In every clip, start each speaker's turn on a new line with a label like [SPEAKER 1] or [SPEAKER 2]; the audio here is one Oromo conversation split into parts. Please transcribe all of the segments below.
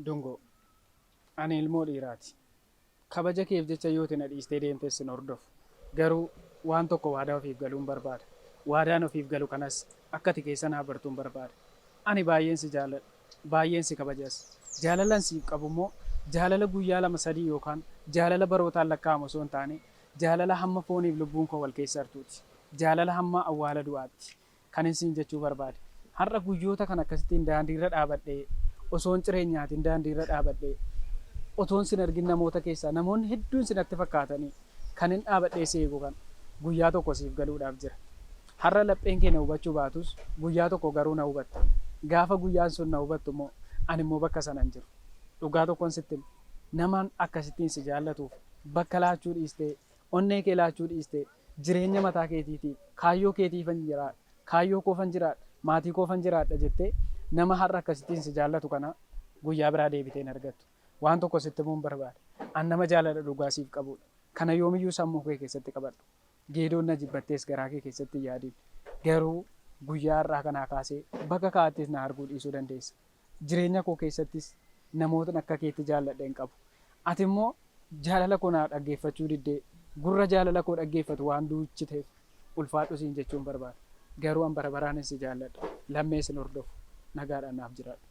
[SPEAKER 1] Dungoo, ani ilmoo dhiiraati. Kabaja keef jecha yoo ati na dhiistee deemtes sin hordofu. Garuu waan tokko waadaa ofiif galuun barbaada. Waadaan ofiif galu kanas akka ati keessa naa bartuun barbaada. Ani baay'een si jaalladha. Baay'een si kabajas. Jaalalan siif qabu immoo jaalala guyyaa lama sadii yookaan jaalala barootaan lakkaa'amu osoo hin taane jaalala hamma fooniif lubbuun koo wal keessa hartuuti. Jaalala hamma awwaala du'aatti. Kanin siin jechuu barbaade har'a guyyoota kana akkasittiin daandiirra dhaabadhee osoon ciree hin nyaatiin daandiirra dhaabadhee otoon sin argin namoota keessaa namoonni hedduun si natti fakkaatanii kanin dhaabadhee si eegu kana guyyaa tokko siif galuudhaaf jira. Har'a lapheen kee na hubachuu baatus guyyaa tokko garuu na hubatta. Gaafa guyyaan sun na hubattu immoo ani immoo bakka sana hin jiru. Dhugaa tokkon sitti hima namaan akkasittiin si jaallatuuf bakka laachuu dhiistee Onnee kee laachuu dhiistee, jireenya mataa keetiitiif, kaayyoo keetiifan jiraadha, kaayyoo koofan jiraadha, maatii koofan jiraadha jettee nama har'a akkasittiin si jaallatu kana guyyaa biraa deebitee hin argattu. Waan tokko sitti himuun barbaada. An nama jaalala dhugaa siif qabuudha. Kana yoomiyyuu sammuu kee keessatti qabadhu. Geedoon na jibbattees garaa kee keessatti hin yaadin. Garuu guyyaa har'aa kanaa kaasee bakka kaa'attis na arguu dhiisuu dandeessa. Jireenya koo keessattis namootni akka keetti jaalladhe hin qabu. Ati immoo jaalala koo naa dhaggeeffachuu diddee, gurra jaalala koo dhaggeeffatu waan duuchiteef ulfaadhu siin jechuun barbaada. Garuu an bara baraanin si jaalladha. Lammee sin hordofu. Nagaadhaan naaf jiraadhu.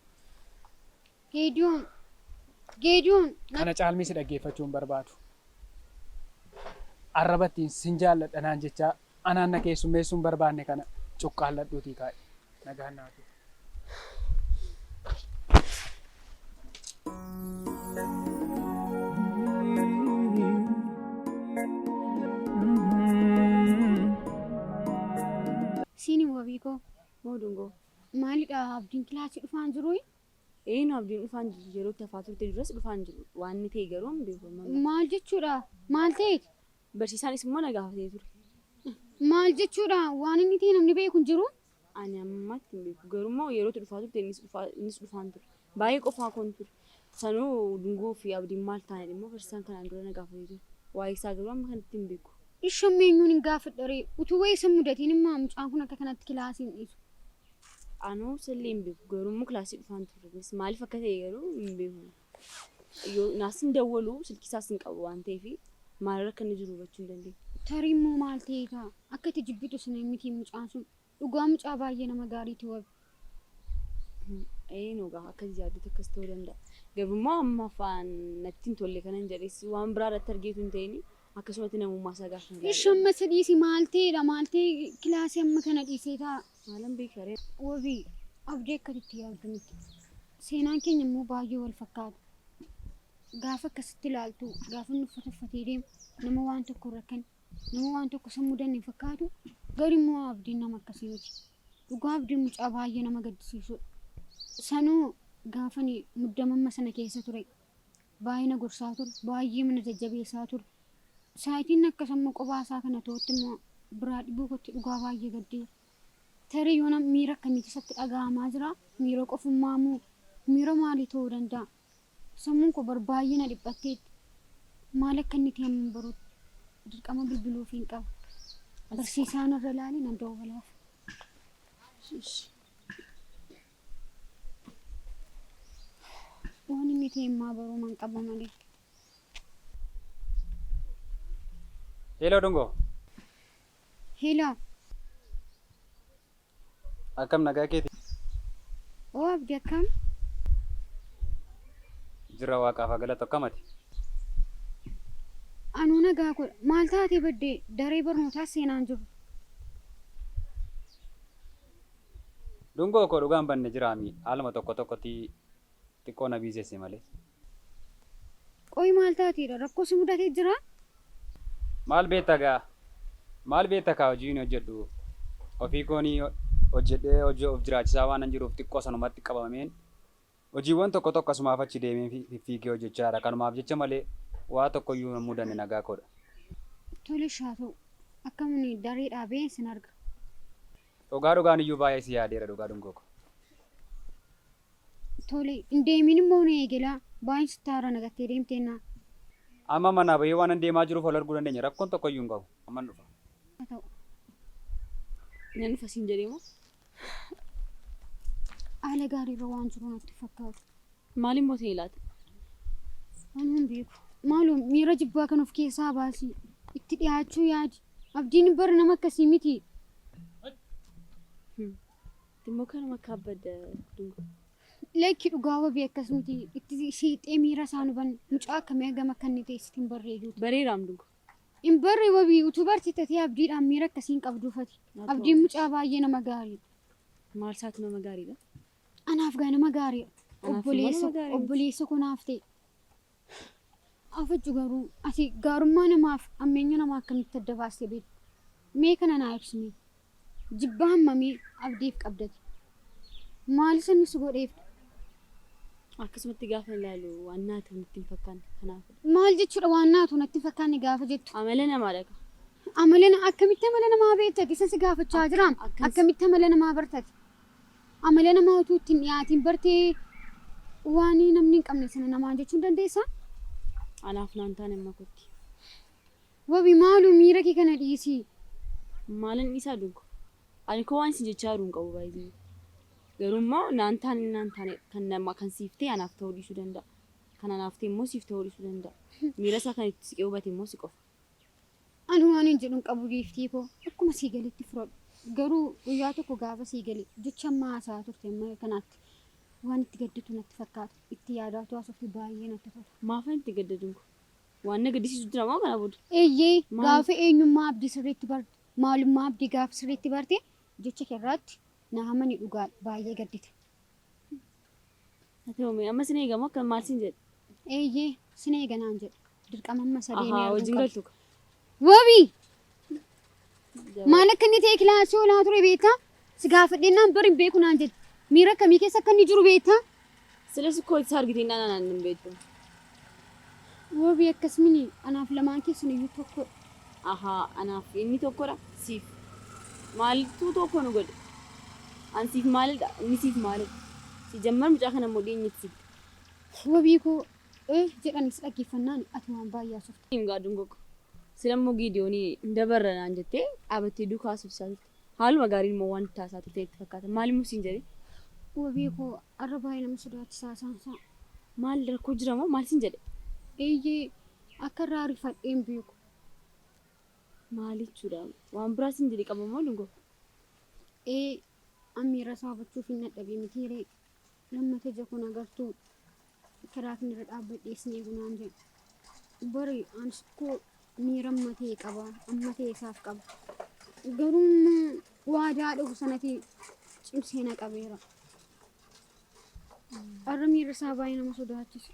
[SPEAKER 1] Geediyoon!
[SPEAKER 2] Geediyoon! Na. Kana caalmii si
[SPEAKER 1] dhaggeeffachuu hin barbaadu. Arraba ittiin sin jaalladha naan jechaa Anaan na keessummeessuu hin barbaanne kana cuqqaalladhuutii kaa'i. Nagaan naa turi.
[SPEAKER 2] Siini wabiikoo boodungoo maalidha abdiin kilaasii dhufaan jiruu? Eeyyin abdiin
[SPEAKER 3] dhufaan jiru yeroo itti hafaa turte duras dhufaan jiru waan inni ta'e garuu hin beeku. Maal jechuudha?
[SPEAKER 2] Maal ta'eeti? Barsiisaanis immoo na
[SPEAKER 3] gaafatee ture. Maal
[SPEAKER 2] jechuudha? Waan inni ta'e namni beeku hin jiru? Ani ammatti
[SPEAKER 3] hin beeku. Garuu immoo yerootu dhufaa turte innis dhufaa innis dhufaan ture. Baay'ee qofaa koon ture. Sanuu Dungoo fi Abdiin maal taanidha immoo barsiisaan kanaan dura na gaafatee ture. Waa'ee isaa garuu amma kanatti hin beeku. Ishi amma eenyuun hin
[SPEAKER 2] gaafadha ree? Utuu wayii isa hin mudatiin immoo mucaan kun akka kanatti kilaasii hin dhiisu. Anoo
[SPEAKER 3] isallee hin beeku. Garuu immoo kilaasii dhufaan ture. Innis maaliif akka ta'e garuu hin beeku. Yoo naas hin dawwalu silkii isaas hin qabu waan ta'eef maalirra akka inni jiru hubachuu hin dandeenye. Tarii immoo maal
[SPEAKER 2] ta'ee ta'a? Akka itti jibbitu sana hin miti mucaan sun. Dhugaa mucaa baay'ee nama gaariiti wabi. Ee
[SPEAKER 3] nogaa akkas yaaddeet akkas ta'uu danda'a. Garuu immoo amma afaan natti hin tolle kanan jedhes waan biraa irratti argeetu hin ta'in akkasumatti namummaa isaa gaafa hin Ishi amma isa dhiisi maal
[SPEAKER 2] ta'eedha maal ta'e kilaasii amma kana dhiisee ta'a. Maalan beeka ree?
[SPEAKER 3] Wabii,
[SPEAKER 2] Abdii akka ati itti yaaddu miti. Seenaan keenya immoo baay'ee wal fakkaata. Gaafa akkasitti ilaaltu, gaafa inni uffata uffatee deemu, nama waan tokko hin rakkane, nama waan tokko isa hin mudanne hin fakkaatu. Garuu immoo Abdiin nama akkasii miti. Dhugaa Abdiin mucaa baay'ee nama gaddisiisudha. Sanuu gaafa ani muddama amma sana keessa ture, baay'ee na gorsaa ture. Baay'eema na jajjabeessaa ture. Saayitiin akkas amma qophaa isaa kana ta'utti immoo biraa dhibuu kootti dhugaa baay'ee gaddeera. Tarii yoona miira akkamiitu isatti dhaga'amaa jira? Miira qofummaa moo miira maalii ta'uu danda'a? Sammuun koo bar baay'ee na dhiphatteetti. Maal akka inni ta'e amman baruutti dirqama bilbiluufiin qaba. Barsiisaa narra ilaali nan dawwalaaf. Ishi ishi. Waan inni ta'e immaa baruu man qaba malee.
[SPEAKER 1] Hello Dungo.
[SPEAKER 2] Hello.
[SPEAKER 1] Akkam nagaa keeti?
[SPEAKER 2] Oo abdi akkam?
[SPEAKER 1] Jirra waaqaaf haa galatu akkam ati?
[SPEAKER 2] Anuu nagaa godha. Maal taatee baddee daree barnootaa seenaan jiru?
[SPEAKER 1] Dungoo koo dhugaan banne jiraami haaluma tokko tokkoti xiqqoo na biisesse malee.
[SPEAKER 2] Qoyi maal taateedha? Rakkoo si mudate jira? Maal
[SPEAKER 1] beetta gaa? Maal beetta kaa hojiin hojjedhu ofii kooni hojjedhee of jiraachisaa waanan jiruuf xiqqoo sanumatti qabameen Hojiiwwan tokko tokko asumaaf achi deemeen fiffiigee hojjechaadha. Kanumaaf jecha malee waa tokkoyyuu hin mudanne nagaa koodha. Tole ishi
[SPEAKER 2] haa ta'u. Akkaman daree dhaabeen sin arga. Dhugaa
[SPEAKER 1] dhugaan iyyuu baay'ee si yaadeera dhugaa dungoo koo.
[SPEAKER 2] Tole hin deemiin immoo na eegelaa. Baay'een sitti aara na gattee deemteennaa. Amma
[SPEAKER 1] manaa bahee waanan deemaa jiruuf wal arguu dandeenya rakkoon tokkoyyuu hin qabu. Amman dhufa. Haa ta'u.
[SPEAKER 3] Nan dhufa siin jedhee moo?
[SPEAKER 2] Haala gaariirra
[SPEAKER 3] waan
[SPEAKER 2] jiru natti
[SPEAKER 3] fakkaatu. Maaliin bootee ilaata?
[SPEAKER 2] Ani hin beeku. Maaloo miira jibbaa kan of keessaa baasii. Itti dhiyaachuu yaadi. Abdiin bara nama akkasii miti.
[SPEAKER 3] Immoo kanuma akka abbadda dungu. Lakki
[SPEAKER 2] dhugaa wabii akkas miti. Itti shiixee miira isaa nu banne. Mucaa akkamii hagam akka inni ta'e sitti hin barreeyyuu. Bareeraam dungu.
[SPEAKER 3] Hin barre
[SPEAKER 2] wabii utuu bartee tatee abdiidhaan miira akkasii hin qabduu fati. Abdiin mucaa baay'ee nama gaariidha. Maal isaatu
[SPEAKER 3] nama gaariidha? Anaaf gaa
[SPEAKER 2] nama gaariidha. Anaaf immoo nama Obboleessa gaariidha. obboleessa koo naaf ta'e. Afajju garuu ati gaarummaa namaaf ammeenya namaa akkamitti adda baastee beekta? Mee kana naa ibsime. Jibba hammamii Abdiif qabdati? Maal isa nusi godheef? Akkasumatti
[SPEAKER 3] gaafan ilaalu waan naa ta'u natti hin fakkaanne kanaafidha. Maal jechuudha waan
[SPEAKER 2] naa ta'u natti hin fakkaanne gaafa jettu? Amala namaadha ka.
[SPEAKER 3] Amala na
[SPEAKER 2] akkamitti amala namaa beektati? Isa si gaafachaa jiraam. Akkan Akkamitti amala namaa bartati? Amala namaa utuu itti hin dhiyaatiin bartee waan namni hin qabne sana namaan jechuu hin dandeessaa? anaaf
[SPEAKER 3] naan taane amma kotti.
[SPEAKER 2] Wabi maalo miira kee kana dhiisi. Maalan
[SPEAKER 3] dhiisaa Doggo? Ani koo waan isin jechaa jiru hin qabu by the way. Garuu immoo naan taane naan taane kan nama kan siif ta'e anaaf ta'uu dhiisuu danda'a. Kan anaaf ta'e immoo siif ta'uu dhiisuu danda'a. Miira isaa kan itti siqee hubate immoo si qofa. Ani
[SPEAKER 2] waanin jedhu hin qabu Giiftii koo. Akkuma sii galetti fudhadhu. Garuu guyyaa tokko gaafa sii gale jecha amma haasa'aa turte amma kanaatti waan itti gadditu natti fakkaata. Itti yaadaa utuu haasoftu baay'ee natti tola. Maafan itti gadda Doggo?
[SPEAKER 3] Waan na gaddisiisu jira moo kana booda? Eeyyee, Maal? gaafa
[SPEAKER 2] eenyummaa abdii sirriitti barte, maalummaa abdii gaafa sirriitti barte, jecha kee irraatti na amani dhugaadha, baay'ee gaddita.
[SPEAKER 3] Haa ta'u mee amma sin eega moo akka maal sin jedhe? Eeyyee,
[SPEAKER 2] sin eega naan jedhe. Dirqama amma isa deemee Ahaa arguu wajjin qaba. galtu ka.
[SPEAKER 3] Wabii!
[SPEAKER 2] Maal akka inni ta'e kilaasii olaa ture beektaa? Si gaafadhennaan bari hin beeku naan jedhe. Miira akkamii keessa akka inni jiru beektaa? Silas koo
[SPEAKER 3] itti argitiin dhaan anaan hin beektu.
[SPEAKER 2] Wabii akkasumini anaaf lamaan keessan iyyuu tokko. Ahaa
[SPEAKER 3] anaaf inni tokkodha siif. Maaltu tokko nu godhe? An siif maalidha inni siif maalidha? Si jammar mucaa kana immoo dhiyeenyatti siif. Wabii
[SPEAKER 2] koo ee jedhanis dhaggeeffannaani ati waan baay'ee haasofta. hin gaadun gogo.
[SPEAKER 3] Sila immoo Giidiyooni hin dabarra naan jettee dhaabattee duuka haasofsisaa turte. Haaluma gaariin immoo waan itti haasaa turte natti fakkaata. Maal immoo siin jedhe? Wabii koo
[SPEAKER 2] har'a baay'ee nama sodaachisa haasaan isaa. Maal rakkoo
[SPEAKER 3] jira moo maal siin jedhe? Eeyyee
[SPEAKER 2] akka irraa rifadhee hin beeku. Maal
[SPEAKER 3] jechuudha? Waan biraa siin jedhe qaba moo Dungoo? Ee an
[SPEAKER 2] miira isaa hubachuuf hin dadhabee mitii ree? Lammata ija koo na gartuu? Karaa kanarra dhaabbadhee sin eegu naan jedhu. Bari anis koo miira amma ta'e qaba. Amma ta'e isaaf qaba. Garuu immoo waadaa dhufu sanatti cimsee na qabeera. Har'a miirri isaa baay'ee nama sodaachisa.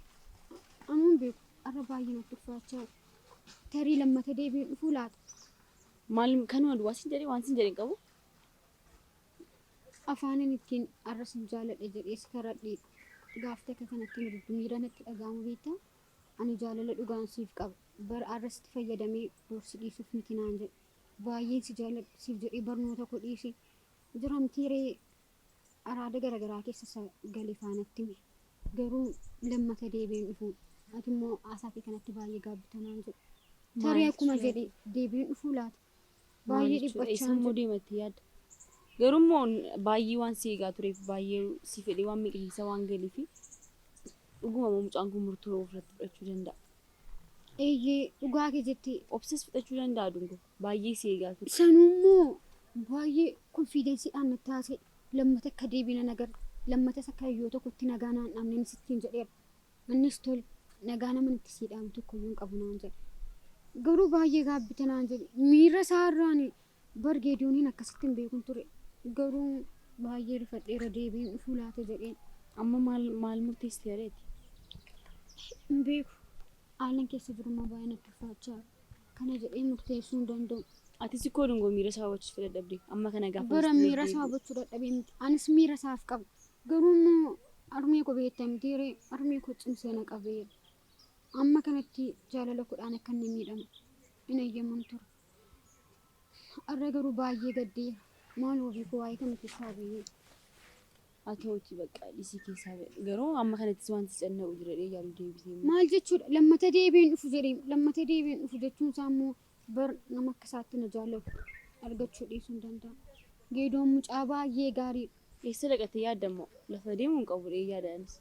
[SPEAKER 2] Amma hin beeku. Har'a baay'ee natti ulfaachaa jira. Tarii lammata deebiin dhufuu laata? Maal
[SPEAKER 3] kanuma duwwaa sin jedhee waan sin jedhe hin qabu.
[SPEAKER 2] Afaanin ittiin arra sin jaaladha jedhee si karadheedha. Gaaf takka kan akkan diddu miira natti dhaga'amu beektaa? Ani jaalala dhugaan siif qaba. Bar arra sitti fayyadamee bor si dhiisuuf miti naan jedhe. Baayyeen si jaaladha siif jedhee barnoota koo dhiise. Jiramtii ree? Araada garagaraa keessa isa gale faa natti hime. Garuu lammata deebi'ee hin dhufu. Ati immoo haasaa kee kanatti baayyee gaabbita naan jedhe. Tarii Maaliif akkuma jedhe deebi'ee hin dhufuu laata? Baay'ee dhiphachaa Isaan immoo deematti yaadda.
[SPEAKER 3] Garuu immoo baay'ee waan si eegaa tureef baay'ee si fedhee waan miqisiisa waan galiif dhuguma immoo mucaan kun murtoo ofirratti fudhachuu danda'a. Eeyyee
[SPEAKER 2] dhugaa kee jetti. Obsas fudhachuu danda'a
[SPEAKER 3] dungo baay'ee si eegaa ture. Sanuu immoo
[SPEAKER 2] baay'ee konfiidensiidhaan natti haasa'e. Lammata akka deebiin na gara lammatas akka yoo tokkotti nagaa naan dhabneen sittiin jedheera. Annis tol nagaa naman itti sii dhaamu tokkoyyuu hin qabu naan jedhe. Garuu baay'ee gaabbita naan jedhe. Miira isaa irraa ani bar Geediyooniin akkasitti hin beekun ture. Garuu baay'ee rifadheera deebi'een dhufuu laata jedheen. Amma maal
[SPEAKER 3] maal murteessite jedheeti?
[SPEAKER 2] Hin beeku. Haalan keessa jiru immoo baay'ee natti ulfaachaa jira. kana jedhee murteessuu hin danda'u. Atis koo dungoo
[SPEAKER 3] miira isaa hubachiisu fedha dhabde. Amma kana gaafa Bara murtii miira isaa deebi'u. hubachuu
[SPEAKER 2] dadhabee miti. Anis miira isaaf qaba. Garuu immoo harmee koo beektaa miti hiree harmee koo cimsee na qabeera. Amma kanatti jaalala kudhaan akka inni miidhamu hin eeyyaman ture. Har'a garuu baay'ee gaddeera. Maal wabii koo waa'ee kana keessaa bayyee.
[SPEAKER 3] Ati hoji baqqa dhisii keessaa ba'i. Garuu amma kanattis wanti si cannaqu jira jedhee yaadu deebisee immoo. Maal jechuudha lammata
[SPEAKER 2] deebi'ee hin dhufu jedhee lammata deebi'ee hin dhufu jechuun isaa immoo bar nama akka isaatti na jaallatu argachuu dhiisuu hin danda'amu. Geedoon mucaa baay'ee
[SPEAKER 3] gaariidha.
[SPEAKER 2] Eessa
[SPEAKER 3] dhaqattee yaadda immoo? Lafa
[SPEAKER 2] deemuu
[SPEAKER 3] hin qabu jedhee yaada anis.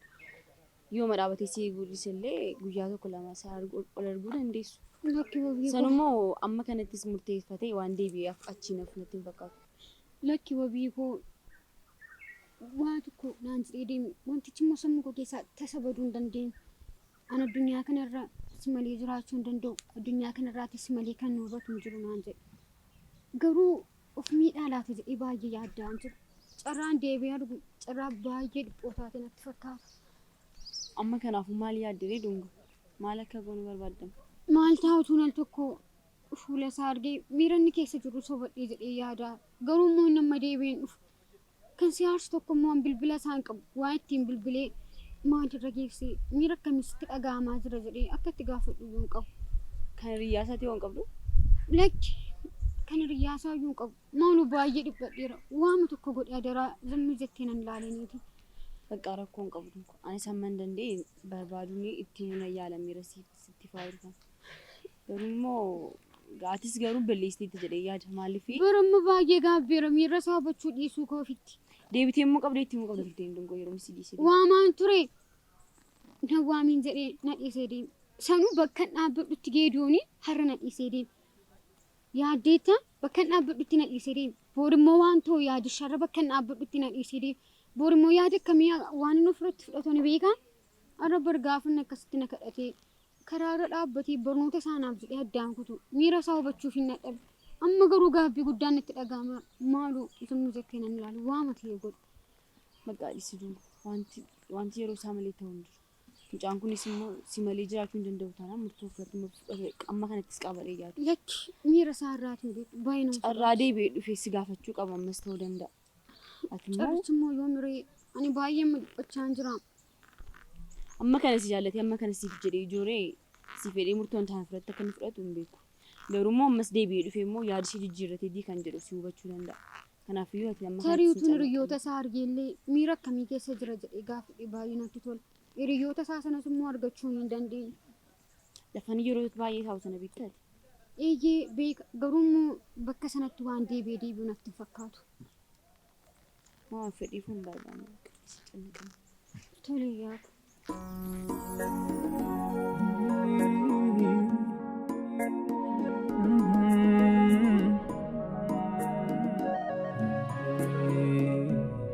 [SPEAKER 3] Yooma dhaabatee si eeguu dhiise illee guyyaa tokko lama si argu- ol arguu dandeessu. Lakki wabii San koo.
[SPEAKER 2] immoo amma
[SPEAKER 3] kanattis murteeffatee waan deebi'ee af- achiin hafu natti hin fakkaatu. Lakki wabii
[SPEAKER 2] koo. Waa tokko naan jedhee deeme. Wantichi immoo sammuu koo keessaa tasa baduu hin dandeenye. An addunyaa kana irra si malee jiraachuu hin danda'u. Addunyaa kana irraati si malee kan na hubatu hin jiru naan jedhe. Garuu Of miidhaa laata jedhee baay'ee yaadda'aan ture. Carraan deebi'ee arguu carraa baay'ee dhiphoo taate natti fakkaata. Amma
[SPEAKER 3] kanaafuu maal yaadde ree Dunga? Maal akka goonu barbaadda? Maal ta'a utuun
[SPEAKER 2] al tokko fuula isaa argee miira inni keessa jiru sobadhee jedhee yaada. Garuu immoo inni amma deebi'een dhufu Kan si aarsu tokko immoo an bilbila isaa hin qabu. Waan ittiin bilbilee maal irra geessee miira akkamii sitti dhaga'amaa jira jedhee akka itti gaafadhu iyyuu hin qabu. Kan hiriyyaa
[SPEAKER 3] isaatii hoo hin qabdu? Lakki
[SPEAKER 2] kan hiriyyaa isaa iyyuu hin qabu. Maanu baay'ee dhiphadheera. Waama tokko godhe adaraa zammii jettee nan laaleeniiti. Baqqaa rakkoo
[SPEAKER 3] hin qabdu. Anis hamman danda'e barbaaduun itti himuun yaalameera sitti faayiru kana. Garuu immoo gaatis garuu balleessiteetti jedhee yaada maaliifi? Bara amma baay'ee
[SPEAKER 2] gaabbeera miirra isaa hubachuu dhiisuu koo ofitti. Deebitee immoo qabdee itti
[SPEAKER 3] immoo qabda turte hin dungoo yeroo misii dhiisee. Waamaan ture
[SPEAKER 2] na waamiin jedhee na dhiisee deeme. Sanuu bakkan dhaabbadhutti geedoonii har'a na dhiisee deeme. Yaaddeetta bakkan dhaabbadhutti na dhiisee deeme. Boor immoo waan ta'u yaadi sharra bakkan dhaabbadhutti na dhiisee deeme. Boor immoo yaada akkamii waan inni ofirratti fudhatu ni beekaa? Har'a bar gaafa inni akkasitti na kadhatee Karaa irra dhaabbatee barnoota isaa naaf jedhee addaan kutuu. Miira isaa hubachuufiin dadhabe. Amma garuu gaabbii guddaan natti dhaga'ama. Maaloo utuu inni jekkee nan ilaalu waama ta'e godhu. Baqqaa dhisi
[SPEAKER 3] duu wanti wanti yeroo isaa malee ta'u hin jiru. Mucaan kunis immoo si malee jiraachuu hin danda'u taanaan murtoo fudhatuma fudhate amma kanattis qabalee yaadu. Lakki miira isaa
[SPEAKER 2] irraati hin beeku. Baay'ee nama Carraa sodaachisa. deebi'ee dhufee si
[SPEAKER 3] gaafachuu qaba ammas ta'uu danda'a. Ati immoo Carrichi immoo yoo miree
[SPEAKER 2] ani baay'ee mudhachaan jira. amma
[SPEAKER 3] kana si jaallatee amma kana siif jedhee ijooree si fedhee murtoon taana fudhatte akka inni fudhatu hin beeku. Garuu immoo ammas deebi'ee dhufee immoo yaada ishee jijjiirratee dii kan jedhu si hubachuu danda'a. Kanaafiyyuu ati amma Tarii kanatti utuun hin hiriyoota isaa
[SPEAKER 2] argeellee miira akkamii keessa jira jedhee gaafadhe baay'ee natti tola. Hiriyoota isaa sanas immoo argachuu hin dandeenye. Lafan
[SPEAKER 3] yeroo baay'ee taa'u sana beektaati. Eeyyee
[SPEAKER 2] beeka garuu immoo bakka sanatti waan deebi'ee deebi'u natti hin fakkaatu.
[SPEAKER 3] Waan fedhiif hin barbaanne bakka isa cimaqan.
[SPEAKER 2] Tole yaada.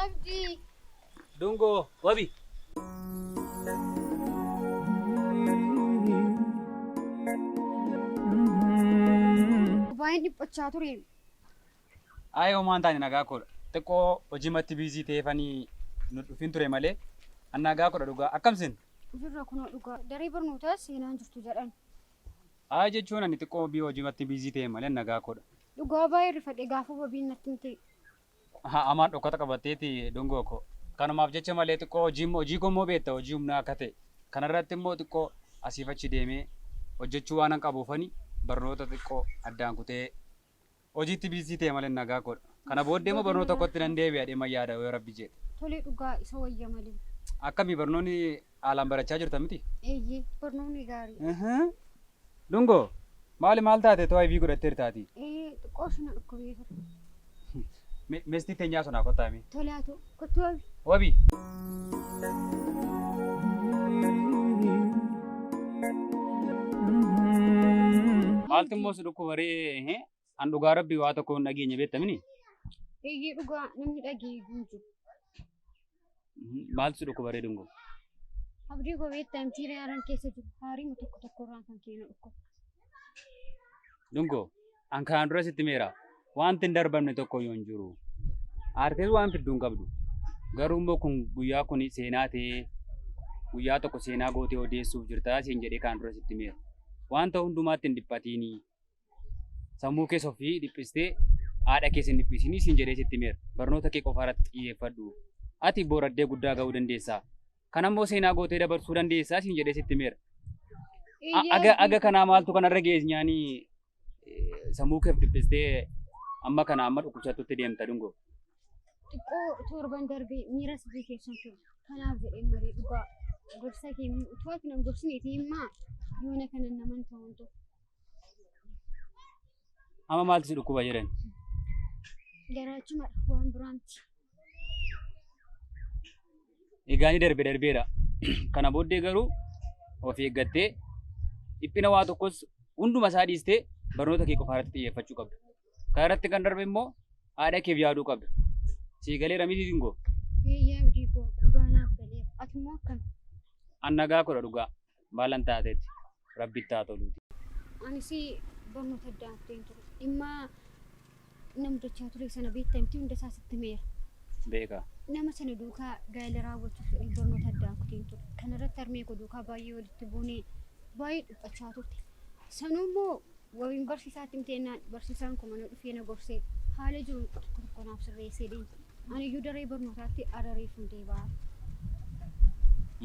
[SPEAKER 4] Abdi. Dungo, wabi.
[SPEAKER 2] Baay'een dhiphachaa ture.
[SPEAKER 4] Ayi homaa hin taane nagaa koodha. Xiqqoo hojimatti biizii ta'eefani nu dhufin ture malee an nagaa koodha dhugaa. Akkam sin? Jirra kunoo dhugaa.
[SPEAKER 2] Daree barnootaa seenaa hin jirtu jedhan. Ayi
[SPEAKER 4] jechuun ani xiqqoo biyya hojimatti biizii ta'e malee an nagaa koodha. Dhugaa baay'ee rifadhe
[SPEAKER 2] gaafa wabiin natti himte. Amaan
[SPEAKER 4] dhokkata qabatteeti dungoo koo. Kanumaaf jecha malee xiqqoo hojii hojii koo immoo beekta hojii humnaa akka ta'e. Kana irratti immoo xiqqoo asiif achi deemee hojjechuu waanan qabuufani barnoota xiqqoo addaan kutee Hojiitti biizii ta'e malee nagaa koodha. Kana booddee immoo barnoota kootti nan deebi'a jedheen man yaada yoo Rabbi jedhe. Tole dhugaa isa
[SPEAKER 2] wayya malee. Akkami barnoonni
[SPEAKER 4] haalaan barachaa jirta miti? Eeyyee barnoonni
[SPEAKER 2] gaariidha. Uhuu. Dungoo!
[SPEAKER 4] Maali maal taate too IV godhatteerta ati? Ee xiqqoo ishii na
[SPEAKER 2] dhukkubee ture.
[SPEAKER 4] Me- Meestii teenyaa sonaa kottaa mee. Tole haa ta'u. Kottu
[SPEAKER 2] wabi. Wabi.
[SPEAKER 4] Maaltu immoo si dhukkuba ree? An dhugaa rabbii waa tokko hin dhageenye beektamini? Eeyyee
[SPEAKER 2] dhugaa namni dhagee guutu.
[SPEAKER 4] Maaltu si dhukkuba ree dungoo? Abdii
[SPEAKER 2] koo beektaa miti reeran keessa jiru haariima tokko tokko irraan kan keenu dhukkuba. Dungoo.
[SPEAKER 4] An kanaan dura sitti meera. Wanti hin darbamne tokko iyyuu hin jiru. Aartees waan fidduu hin qabdu. Garuu immoo kun guyyaa kun seenaa ta'ee guyyaa tokko seenaa gootee odeessuuf jirtaa siin jedhee kanaan dura sitti meera. Wanta hundumaatti hin dhiphatiinii. Sammuu kees ofii dhiphistee haadha kees hin dhiphisinii siin jedhee sitti meera. Barnoota kee qofa irratti xiyyeeffadhu. Ati booraddee guddaa ga'uu dandeessaa. Kan ammoo seenaa gootee dabarsuu dandeessaa siin jedhee sitti meera. Iyyee Aga aga kanaa maaltu kanarra geessu nyaanii sammuu keef dhiphistee amma kana amma dhukkubsattutti deemta dungoo. Xiqqoo
[SPEAKER 2] torban darbee miira sirrii keessan ture. Kanaaf jedhee marii dhugaa gorsa kee utuu ati nan gorsineeti himmaa yoona kana naman ta'uun ta'u.
[SPEAKER 4] Amma maaltu si dhukkuba jedhan? Garaachumadha
[SPEAKER 2] waan biraanti.
[SPEAKER 4] egaanii darbe darbeera. Kana booddee garuu of eeggattee dhiphina waa tokkos hunduma isaa dhiistee barnoota kee qofa irratti xiyyeeffachuu qabda. Kana irratti kan darbe immoo haadha keef yaaduu qabda. Sii galee ramitii singoo. Eeyyee abdii
[SPEAKER 2] koo dhugaa naaf galeera. Ati immoo akkami? Annagaa
[SPEAKER 4] kudha dhugaa. maalan taateetti rabbitti haa toluuti. Anis
[SPEAKER 2] barnoota addaan kuteen ture. Dhimma namtochaa ture sana beektaa miti hunda isaa sitti meera. Beeka.
[SPEAKER 4] Nama sana
[SPEAKER 2] duukaa gaa'ela raawwachuuf jedhee barnoota addaan kuteen ture. Kanarratti harmee koo duukaa baay'ee walitti buunee baay'ee dhiphachaa turte. Sanuu immoo Wabiin barsiisaatti himte jennaan barsiisaan koo mana dhufee na gorsee haala jiru tokko tokko naaf sirreessee deeme. Aniyyuu daree barnootaatti har'a reefun deebi'aa.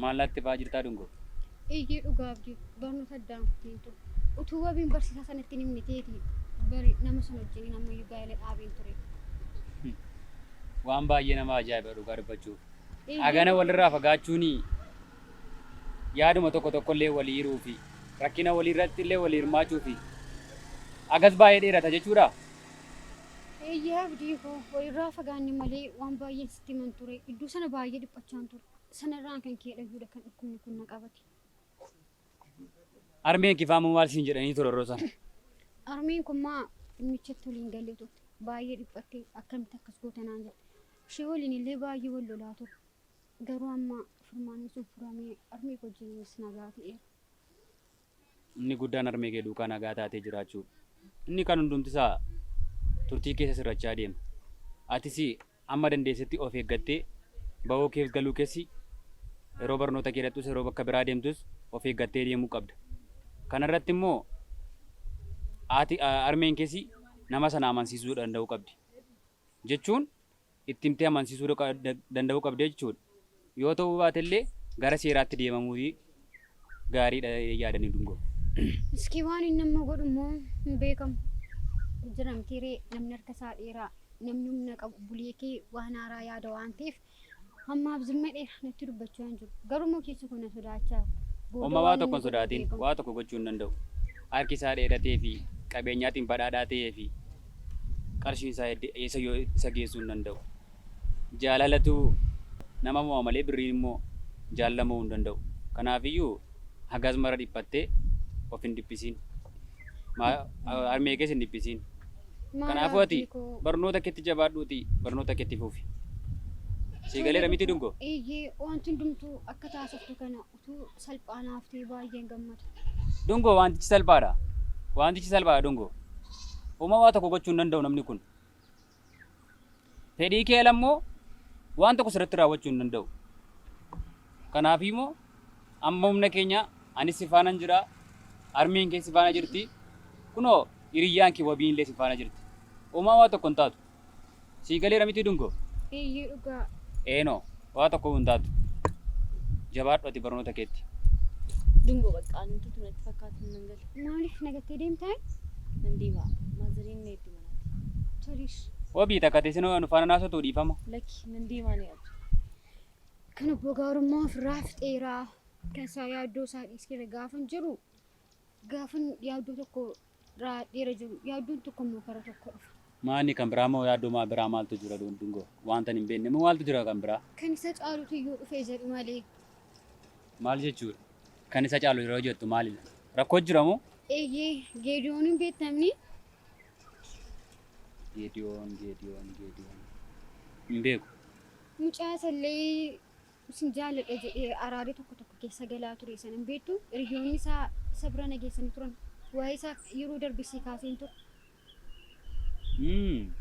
[SPEAKER 2] Maal
[SPEAKER 4] laattee ba'aa jirtaa Dungoo? Eeyyee dhugaa
[SPEAKER 2] Abdii barnoota addaan kuteen ture. Utuu wabiin barsiisaa sanatti hin himne ta'eeti bari nama sana wajjiniin ammayyuu gaa'ela dhaabeen ture. Waan
[SPEAKER 4] baay'ee nama ajaa'iba dhugaa dubbachuuf. Eeyyee. Hagana walirraa fagaachuuni yaaduma tokko tokkollee walii hiruu fi rakkina waliirratti illee walii hirmaachuu fi agas baay'ee dheerata jechuudha.
[SPEAKER 2] Eeyyee abdii koo walirraa fagaanne malee waan baay'een sitti himan ture. Iddoo sana baay'ee dhiphachaan ture. Sanarraan kan kee dhayyuudha kan dhukkubni kun na qabate.
[SPEAKER 4] Armeen kifaamuu maal siin jedhanii ture yeroo sana? Armeen kun
[SPEAKER 2] maa dhimmichatti waliin galee turte. Baay'ee dhiphattee akkamitti akkas goota naan jette. Ishee waliin illee baay'ee wal lolaa ture. Garuu amma furmaanni sun furamee harmee wajjinis nagaa ta'eera.
[SPEAKER 4] Inni guddaan harmee kee duukaa nagaa taatee jiraachuudha. Inni kaan hundumti isaa turtii keessa sirrachaa deema. Atis amma dandeessetti of eeggattee bahoo keef galuu keessi yeroo barnoota kee dhaqxus yeroo bakka biraa deemtus of eeggattee deemuu qabda. Kana irratti immoo haati harmeen keessi nama sana amansiisuu danda'uu qabdi. Jechuun itti himtee amansiisuu danda'uu qabda jechuudha. Yoo ta'uu baatellee gara seeraatti deemamuun gaariidha jedhee yaada ani Dungoo. Iskii waan
[SPEAKER 2] inni amma godhu immoo hin beekamu. Jira mitii ree namni harka isaa dheeraa namni humna qabu buliikii waan haaraa yaada waan ta'eef hammaaf zimma dheera natti dubbachaa hin jiru. Garuu immoo keessa koo na sodaachaa. Booda Omma waa waan tokko
[SPEAKER 4] hin inni godhu hin sodaatin beekamu. waa tokko gochuu hin danda'u. Harki isaa dheeratee fi qabeenyaatiin badhaadhaa ta'ee fi Qarshiin isaa hedde eessayyuu isa geessuu hin danda'u. Jaalalatu nama mo'a malee birriin immoo jaalala mo'uu hin danda'u. Kanaafiyyuu hagaas mara dhiphattee of hin dhiphisiin. Harmee kees hin dhiphisiin. Kanaafuu ati barnoota keetti jabaadhuutii barnoota kee itti fufi. Sii galeera miti Dungoo? Eeyyee, wanti
[SPEAKER 2] hundumtuu akka taasiftu kana. Wantichi salphaa naaf ta'e baay'een gammada. Dungoo wantichi
[SPEAKER 4] salphaadha. Wantichi salphaadha Dungoo. Homaa waa tokko gochuu hin danda'u namni kun. Fedhii kee ala immoo waan tokko sirratti raawwachuu hin danda'u. Kanaaf immoo amma humna keenya anis si faana hin jira, harmeen kee si faana jirti, kunoo hiriyyaan kee wabiin illee si faana jirti. Homaa waa tokko hin taatu. Sii galeera mitii dungoo? Eeyyee dhugaa.
[SPEAKER 2] Eenoo,
[SPEAKER 4] waa tokko hin taatu. Jabaadhu ati barnoota keetti. Dungoo
[SPEAKER 3] bakka ani tutu natti fakkaatan nan gale. Maaliif nagattee deemtaan?
[SPEAKER 2] Nan deema.
[SPEAKER 3] Maazariin na eegdi manaatti. Tolish. Wabii
[SPEAKER 2] takka teessinoo
[SPEAKER 4] anu faana naasotuu dhiifama. Lakki nan deemaa ni
[SPEAKER 3] abdi. Kan
[SPEAKER 2] obbo Gaarummaa ofirraa fixeeraa. Kan isaa yaaddoo isaa dhiiskeera gaafan jiru gaafan yaaddoo tokko Raa dhiira jiru yaaddoon tokko immoo karaa tokko dhufa. Maa inni kan biraa moo
[SPEAKER 4] yaaddoo maa biraa maaltu jira dun- dungoo? Wanta hin beekne moo maaltu jira kan biraa? Kan isa caalutu iyyuu
[SPEAKER 2] dhufee jedhu malee. Maal
[SPEAKER 4] jechuudha? Kan isa caalu yeroo jettu maalidha? Rakkoo jira moo? Eeyyee geediyoon
[SPEAKER 2] hin beektamni.
[SPEAKER 4] Geediyoon, geediyoon, geediyoon. Hin beeku. Mucaa
[SPEAKER 2] isallee Isin jaalladha jedhee araadee tokko tokko keessa galaa ture sana hin beektu. Hiriyoonni isaa isa bira na geessanii turan. Waa'ee isaa yeroo darbe sii kaaseen ture. Hmm.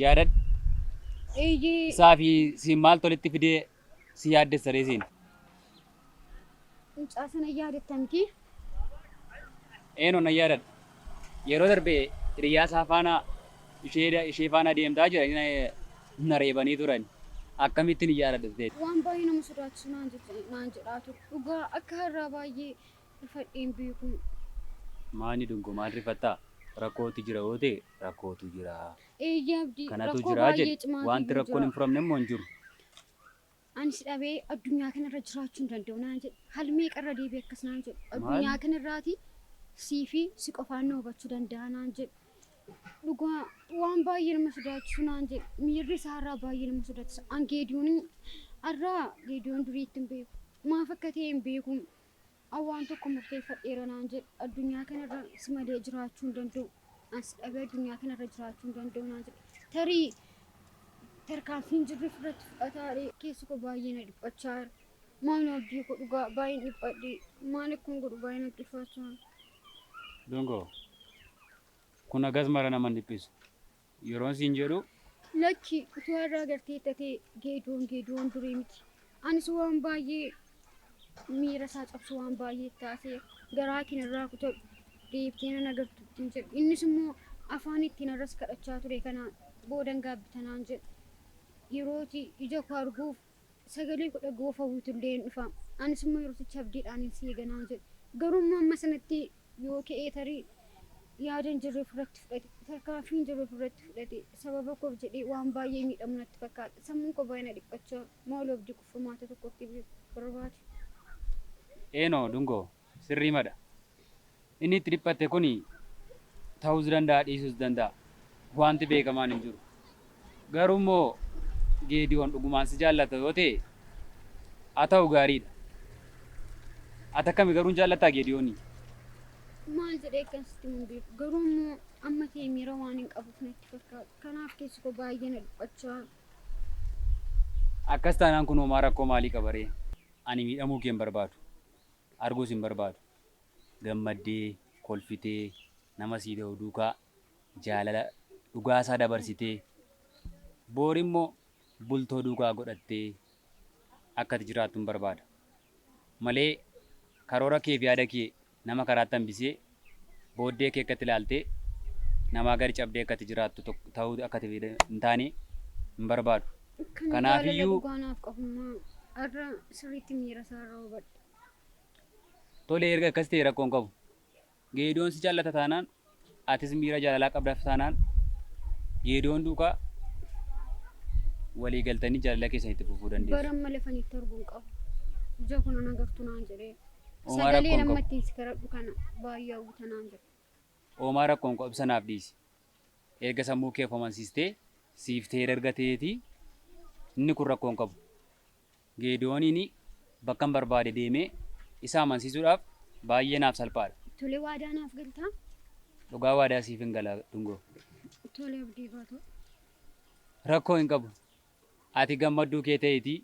[SPEAKER 4] Yaadadhu.
[SPEAKER 2] Eeyyee. Isaa fi
[SPEAKER 4] siin maaltu walitti fidee si yaaddessa ree siin?
[SPEAKER 2] Mucaa sana yaadatta miti?
[SPEAKER 4] Eeno nan yaadadha. Yeroo darbe hiriyaa isaa faana ishee ishee faana deemtaa jiranii na- na reebanii turan. Akkamittiin hin yaadadhu jetteetti. Waan baay'ee nama sodaachisu
[SPEAKER 2] naan jette- naan jedhaa ture. Dhugaa akka har'aa baay'ee rifadhee hin beeku. Maali
[SPEAKER 4] dungo maal rifattaa? Rakkootu jira yoo ta'e rakkootu jira. Eeyyee Abdii,
[SPEAKER 2] Kanatu rakkoo jira baay'ee jedhe.
[SPEAKER 4] cimaa Wanti
[SPEAKER 2] ta'etu
[SPEAKER 4] rakkoon
[SPEAKER 2] jira.
[SPEAKER 4] hin
[SPEAKER 2] furamne immoo
[SPEAKER 4] hin jiru.
[SPEAKER 2] Ani si dhabee addunyaa kana irra jiraachuu hin danda'u naan jedhe. Hal meeqa irra deebi'e akkas naan jedhu. Maal? Addunyaa kana irraati sii fi si qofaan na hubachuu danda'a naan jedhe. Dhugaa waan baay'ee nama sodaachisu naan jedhe. Miirri isaa irraa baay'ee nama sodaachisa. An Geediyoon irraa Geediyoon durii itti hin beeku. Maaf akka ta'e hin beeku. An waan tokko murteeffadheera naan jedhe. Addunyaa kanarra si malee jiraachuu hin danda'u. An si dhabee addunyaa kanarra jiraachuu hin danda'u naan jedhe. Tarii tarkaanfii hin jirre ofirratti fudhataadhe. Keessi koo baay'ee na dhiphachaa jira. Maaloo abdii koo dhugaa baay'een dhiphadhe. Maal akkan godhu baay'ee natti ulfaachaa jira. Dungoo,
[SPEAKER 4] kun hagas mara nama hin dhiphisu. yeroon siin jedhu. Lakki,
[SPEAKER 2] utuu har'a agartee tatee Geedoon Geedoon durii miti. Anis waan baay'ee miira isaa cabsu waan baay'ee itti haasa'eera. Garaa kee narraa kutadhu, deebitee nan agartu ittiin jedhe. Innis immoo afaan ittiin har'as kadhachaa ture kanaan boodan gaabbita naan jedhe. Yerooti ija koo arguuf sagalee koo dhaga'uu of hawwitu illee in dhufa, anis immoo yerosicha abdiidhaanin si eega naan jedhe. Garuu immoo amma sanatti yoo ka'ee tarii yaada hin jirre of irratti fudhate, tarkaanfii hin jirre of irratti fudhate, sababa koof jedhee waan baay'ee miidhamu natti fakkaata. Sammuun koo baay'ee na dhiphachaa, maaloo abdii kuffamaa ta'e tokko akka ibsu barbaade.
[SPEAKER 4] Eenoo Dungoo, Sirriimadha. Inni itti dhiphatte kuni tahuus danda'a dhiisuus danda'a. Waanti beekamaan hin jiru. Garuu immoo Geediyoon dhugumaan si jaallata yoo ta'e haa tahu gaariidha. Ati akkami garuu hin jaallattaa Geediyoonii?
[SPEAKER 2] Maal jedhee akkan sitti himu hin beeku. Garuu immoo amma ta'e miira waan hin qabuuf natti fakkaata. Kanaaf keessi koo baay'ee na dhiphachaa.
[SPEAKER 4] Akkas taanaan kun homaa rakkoo maalii qaba ree? Ani miidhamuu kee hin barbaadu. arguus hin barbaadu. Gammaddee, kolfitee, nama sii tahu duukaa jaalala dhugaa isaa dabarsitee, boor immoo bultoo duukaa godhattee akka ati jiraattuun barbaada. Malee karoora kee fi yaada kee nama karaatti hambisee booddee kee akkatti ilaaltee namaa gadi cabdee akkatti jiraattu tok- ta'uu akkatti fide hin taane hin barbaadu. Kan Kanaaf jaalala iyyuu- dhugaa naaf qabummaa
[SPEAKER 2] har'a sirriitti miira isaa irra hubadhe.
[SPEAKER 4] Tole erga akkas ta'e rakkoon qabu. Geedoon si jaallata taanaan atis miira jaalalaa qabdaaf taanaan geedoon duukaa walii galtanii jaalala keessan itti fufuu dandeessu. Bara amma lafanitti arguun
[SPEAKER 2] qabu. Ija kun ana gartuu naan jedhee. Oomaa Sagalee rakkoon
[SPEAKER 4] namma qabu. ittiin si
[SPEAKER 2] kadhadhu
[SPEAKER 4] kana
[SPEAKER 2] baay'ee hawwita naan jedhe. Oomaa rakkoon
[SPEAKER 4] qabu ibsa naaf dhiisi. Erga sammuu kee of amansiistee siif ta'ee erga ta'eetii inni kun rakkoon qabu. Geediyooniin bakkan barbaade deemee isa amansiisuudhaaf baay'ee naaf salphaadha. Tole waadaa naaf
[SPEAKER 2] galtaa? Dhugaa waadaa
[SPEAKER 4] siif hin gala Dungoo. Tole abdii
[SPEAKER 2] koo ta'u.
[SPEAKER 4] Rakkoo hin qabu. Ati gammadduu kee ta'iitii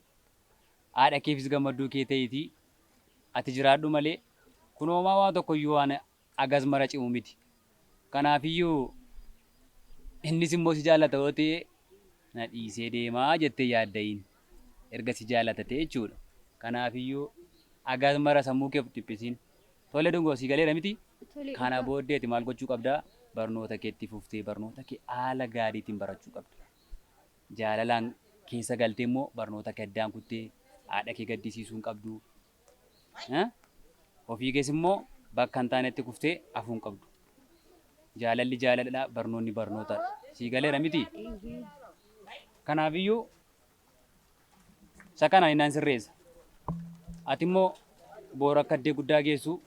[SPEAKER 4] haadha keefis gammadduu kee ta'iitii ati jiraadhu malee, kun homaa waa tokko iyyuu waan hagas mara cimu miti. Kanaaf iyyuu innis immoo si jaallata yoo ta'e na dhiisee deema jettee hin yaadda'iin. Erga si jaallata ta'e jechuu dha. Kanaaf iyyuu hagas mara sammuu kee of hin dhiphisiin. Tole dungoo sii galeera miti? Tole Kana dhugaa. booddee
[SPEAKER 2] ati maal
[SPEAKER 4] gochuu qabda? Barnoota kee itti fuftee barnoota kee haala gaariitiin barachuu qabda. jaalalaan keessa galtee immoo barnoota kee addaan kuttee haadha kee gaddisiisuu hin qabdu. Eh? Ofii kees immoo bakka hin taanetti kuftee afuu hin qabdu. Jaalalli jaalaladha, barnoonni barnootadha. Sii galeera miti? Kanaafiyyuu isa kana ani nan sirreessa. Ati immoo boora akka addee guddaa geessu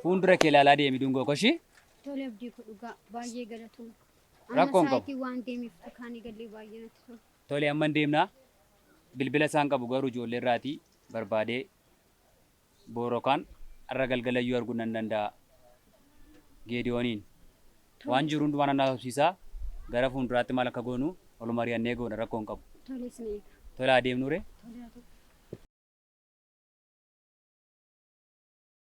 [SPEAKER 4] fuuldura kee ilaalaa deemi dungoo koshii. Tole abdii koo
[SPEAKER 2] dhugaa baay'ee galatooma. Amma Rakkoon qabu.
[SPEAKER 4] sa'aatii waan deemeef kaan
[SPEAKER 2] eegallee baay'ee natti tola. Tole amman deemna.
[SPEAKER 4] Bilbila isaan qabu garuu ijoollee irraatii barbaadee boorokaan har'a galgalayyuu arguu nan danda'a. Geediyooniin Tole. waan jiru hundumaa nan haasofsiisaa gara fuulduraatti maal akka goonu ol mari'annee goona rakkoo hin qabu. Tole isin eega. Tolaa
[SPEAKER 2] deemnuure.
[SPEAKER 4] Tole haa ta'u.